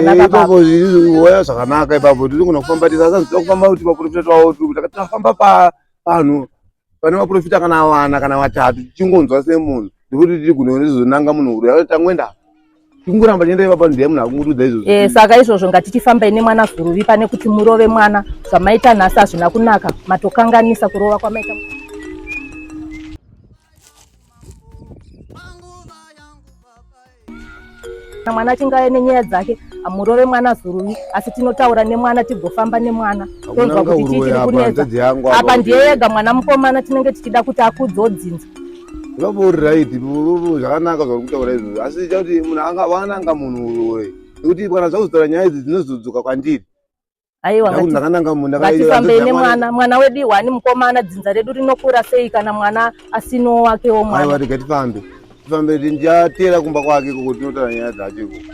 ipapo zviwoya zvakanaka ipapo tiri kuna kufamba tisasazvita kufamba kuti vaprofita twavo tiri kuti tafamba pavanhu pane vaprofita kana vana kana vatatu tichingonzwa semunhu ndikuti tiri kuno rizonanga munhu uri tangoenda tingoramba tienda ipapa ndiye munhu akungurudza izvozvo eh, saka izvozvo ngatichifambai nemwana zuruvi pane kuti murove mwana zvamaita nhasi hazvina kunaka matokanganisa kurova kwamaita mwana achingave nenyaya dzake hamurove mwana zuruvi asi tinotaura nemwana tigofamba nemwana tonzwa kuti chii chiri kunetsa apa ndiye yega mwana mukomana tinenge tichida kuti akudzodzinza vavori right zvakanaka zvauri kutaura izvozvo asi chakuti munhu anga wananga munhu uroyi nekuti kana zvakuzotaura nyaya idzi dzinozodzoka kwandiri aiwa ngatifambei nemwana mwana wedu iwani mukomana dzinza redu rinokura sei kana mwana asino wake wo mwana rega tifambe tifambe ndiyatera kumba kwake koko tinotaura nyaya dzacho ikoko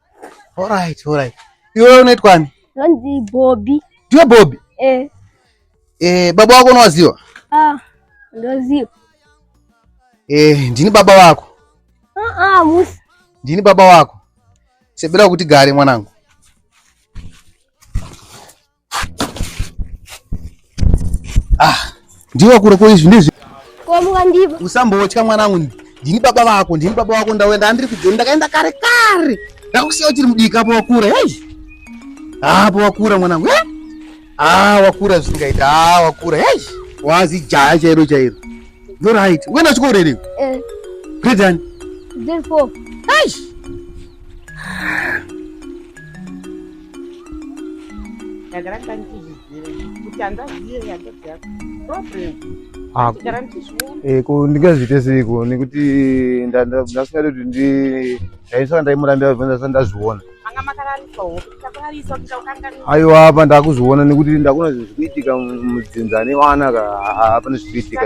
Alright, alright. Iwe unaitwa ani? Ndonzi Bobby. Ndiwe Bobby? Eh. Eh, baba wako unowaziwa? Ah, ndoziwa. Eh, ndini baba wako. Ah, ah, musi. Ndini baba wako. Sebera kuti gare mwanangu. Ah, ndiwe kure ko izvi ndizvi. Ko muka ndivo. Usambotya mwana wangu. Ndini baba vako, ndini baba vako ndawenda ndiri kujoni ndakaenda kare kare. Ndakusiya uchiri mudika apo wakura. Hey. Ah, apo wakura mwana wangu. Eh? Ah, wakura zvisingaita. Ah, wakura. Hey. Wazi jaya chairo chairo. You're right. Wewe na chikoro here? Eh. Grade one. Grade four. Hey. ndagara ndandizvizive kuti handazive handazi yako problem ah, ndagara ndizviona eh, ko ndingazviite seiko nekuti ndasingade kuti ndi ndaisaka ndaimurambira kuti ndasaka ndazviona manga makararisa ho takurarisa kuti ndakukanganisa aiwa apa ndakuzviona nekuti ndakuna zvinhu zvikuitika mudzinza nevana ka hapana zvikuitika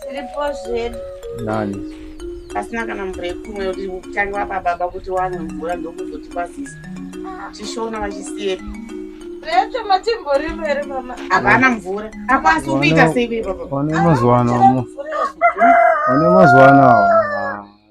Tiripo zvedu. Nani? Pasina kana mvura yekumwa yoti kutanga apa baba kuti wane mvura ndokuzoti kwasisa. Chishona vachisiyepi. Recho matimbori mberi mama. Havana mvura. Hakwasi kuita sei baba. Wane mazuva ano. Wane mazuva ano.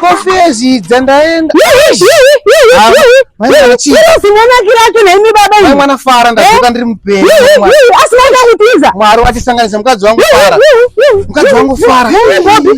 kofezidza ndaenda mwana fara ndazoka ndiri mupenyu asina kuti iza mwari watisanganisa mukadzi wangu fara mukadzi wangu fara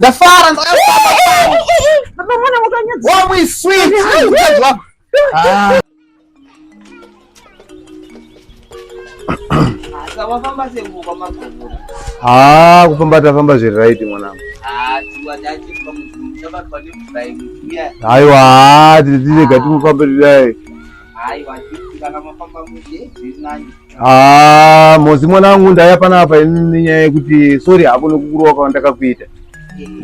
ndafara wamwiswitwajwa haa kufamba tafamba zviri right mwanangu aiwa haa tirega timufambe tidayi Ah, mozi mwana wangu ndaya panapa nenyaya yekuti sorry hako nekukurowa kwandakakuita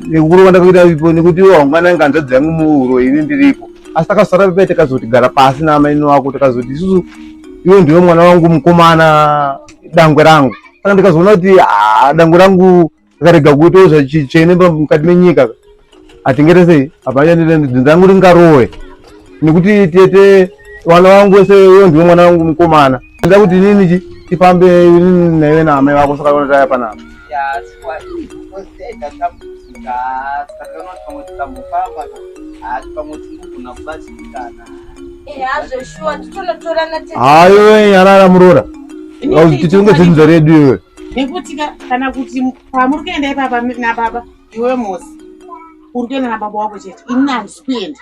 nekukurowa kwandakakuita ipo nekuti waungana nganzvadzi yangu muuro ini ndiripo asi takasara pepe takazoti gara pasi naamaini wako takazoti isusu iwe ndiwe mwana wangu mukomana dangwe rangu saka ndikazoona kuti ah, dangwe rangu akarega kuitawo zvachichene mukati menyika hatingere sei hapanyadzinzangu ringarowe nekuti tete vana vangu wese uyo ndiwe mwana wangu mukomana nda kuti nini chi tifambe nini naive naamai vako saka ona taya panapa hayo nyarara muroora tichenge zvinzwa redu iyoyo nekuti ka kana kuti pamuri kuenda ipapa nababa iwe mosi uri kuenda nababa wako chete ini handisi kuenda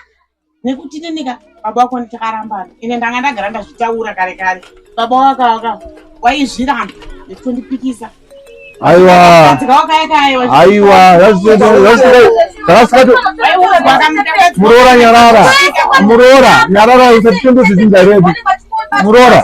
nekuti inenika baba wako nditakarambana ine ndanga ndagara ndazvitaura kare kare baba wakawaka waizviramba nekutondipikisa aiwa muroora nyarara muroora nyarara usatitondozvizinda redu muroora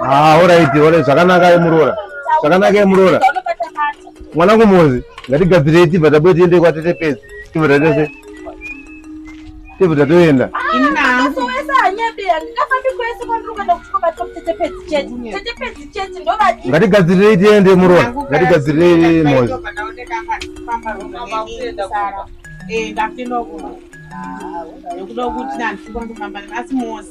Ah, alright, alright, zvakanaka yemuroora. Zvakanaka yemuroora. Mwana kumuzi, ngatigadzire tibva tabuye tiende kwatete pezi. Tibva tatese. Tibva tatoenda. Ngatigadzire tiende muroora. Ngatigadzire mozi. Eh, ndafinokuda. Ah, yokuda kuti nanzi kwandofamba nasi mozi.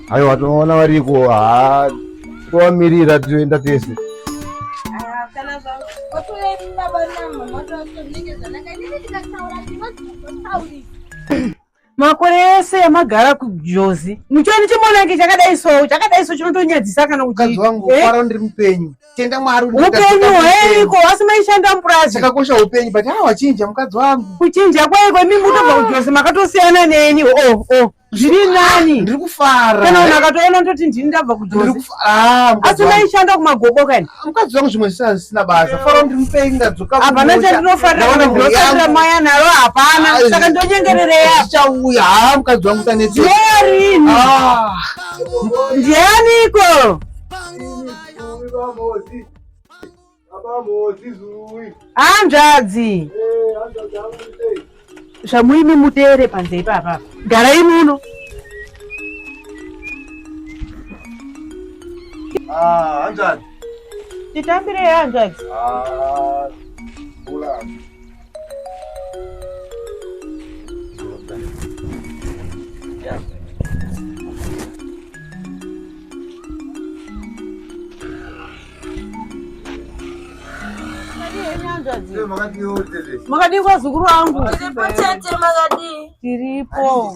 Aiwa tinoona variko haa tovamirira toenda tese. makore ese yamagara kujozi muchioni chimonaki chakadai so chakadai so chinotonyadzisa kana mukadzi wangu fara eh? ndiri mupenyu tenda mwari upenyu hweiko asi maishanda mupurazi chakakosha upenyu but hawachinja mukadzi wangu kuchinja kwaiko imi mutobva kujozi makatosiyana neni oh oh zviri nani ndiri kufara kana munhu akatoona ndoti ndini ndabva kujozi ah, asi maishanda kumagoboka ini ah, mukadzi wangu zvimwe zvisina zvisina basa fara kuti mupei ndadzoka hapana chandinofarira kana ndinofarira maya naro hapana ah, saka ndonyengerereya zvichauya ha mukadzi wangu taneti yerini ndianiko hanzvadzi zvamuimi mutere panze ipapa garai muno ah, hanzvadzi titambirei hanzvadzi ah, Makadii kwazukuru wangu? Tiripo.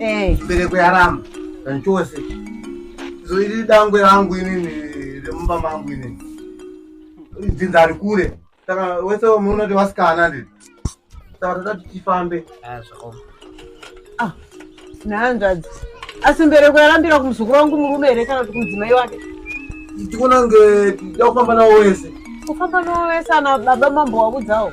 Eh. Bereko yaramba zvachose so iri dangwe rangu inini remumba mangu inini dzinza ari kure saka wese munoti vasikana ndii saka toda kuti tifambe ah, ah, nehanzvadzi asi mbereko yarambira kumuzukuru wangu murume here kana kuti kumudzimai wake tikunange tida kufamba nawo wese kufamba nawo wese ana baba mambo wakudzawo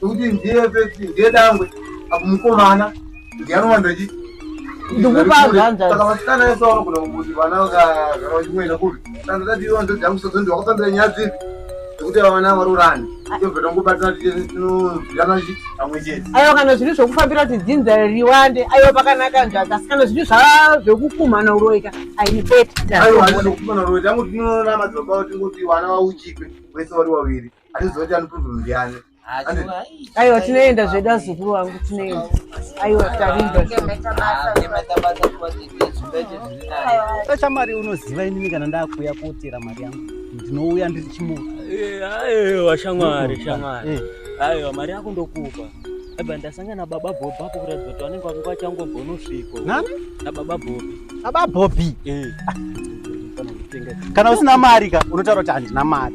Kuti ndiye peti ndiye dangwe apo mukomana ndiye anowanda chi. Ndikupa zvanza. Saka vasikana yese vanogona kuti vana vakagara vachimwena kupi. Kana tati iwe ndodya musodzi ndiye wakafambira nyaya dzipi. Kuti vana varurani. Ah. Tobva tangobatana tichinoziana chi pamwe chete. Ayo kana zviri zvokufambira kuti dzinza riwande ayo pakanaka nzvaza asi kana zviri zvaa zvokukumana uroika aipeti. Ayo hazvi zvokukumana uroika. Tangu tinoona madzibaba tingoti vana vauchikwe vese vari waviri. aiwa tinoenda zvedu azukuru wangu tinoenda aiwa tarinda chamari unoziva inini kana ndakuuya kotera mari yangu ndinouya ndiri chimuka aiwa shamwari shamwari aiwa mari yako ndokupa eba ndasangana baba bobi apo kuratidza kuti vanenge vanga vachangobva unosviko nani nababa bobi baba bobi kana usina mari ka unotaura kuti handina mari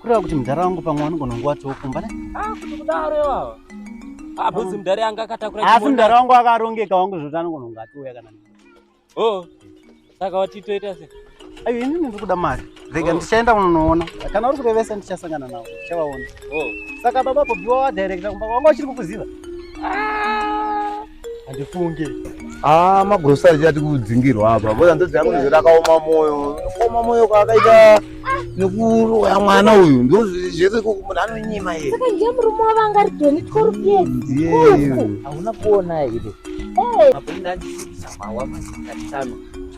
kureva kuti mudhara wangu pamwe wanogona kunge watiwo kumba ne ah, kuti kudaro ivava ah, bhozi mudhara yanga akatakura asi mudhara wangu akarongeka wangu zvoti anogona kunge atiuya kana o oh, saka watitoita se ayo ini ndiri kuda mari rega oh. ndichaenda kunonoona kana uri kurevesa ndichasangana navo ndichavaona oh. saka baba bhobiwa wadirecta kumba wanga uchiri kukuziva ah! handifunge ah magrosari chati kudzingirwa apa boza ndodzi yangu nezvera akaoma moyo akaoma moyo kwaakaita nekuroya mwana uyu ndozvese munhu anonyima iye saka ndiye murume wavanga ari doni tkorupyei hauna kuona iri apo inandisisa mawa mazingatano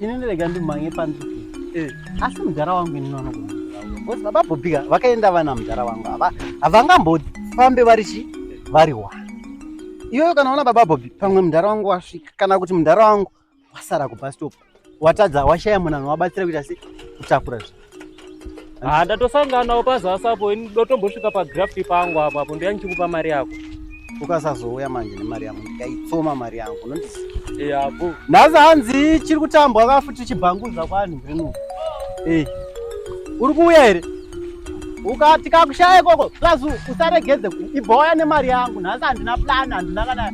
ini ndirega ndimhange panzviki eh. asi mudhara wangu ini nonokuzi baba bobika vakaenda vana mudhara wangu ava havangambofambe vari chi vari wa iyoyo kana ona baba bobi pamwe mudhara wangu wasvika kana kuti mudhara wangu wasara kubastop watadza washaya munhu anowabatsira kuita se kutakura zvi haa ah, ndatosanganawo pazasi apo ini ndotombosvika pagraft pangu apo apo ndoya ndichikupa mari yako ukasazouya manje nemari yangu ndikaitsoma mari yangu unondiziapo eh, nhasi hanzi chiri kutambwa ka futi chibhanguza kwanhu rino e uri kuuya here ukati kakushaya ikoko plus usaregedze ibhoya nemari yangu nhasi handina plan handina kana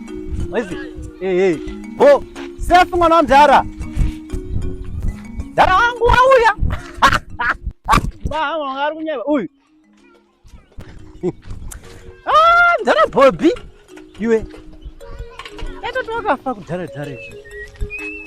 wezi ehe eh, bo safe mwana wamdhara Dara wangu wauya. Mama ngari kunyeba uyu. Ah, ndara Bobby. Iwe. Eto tokafa kudhara dhara izvi.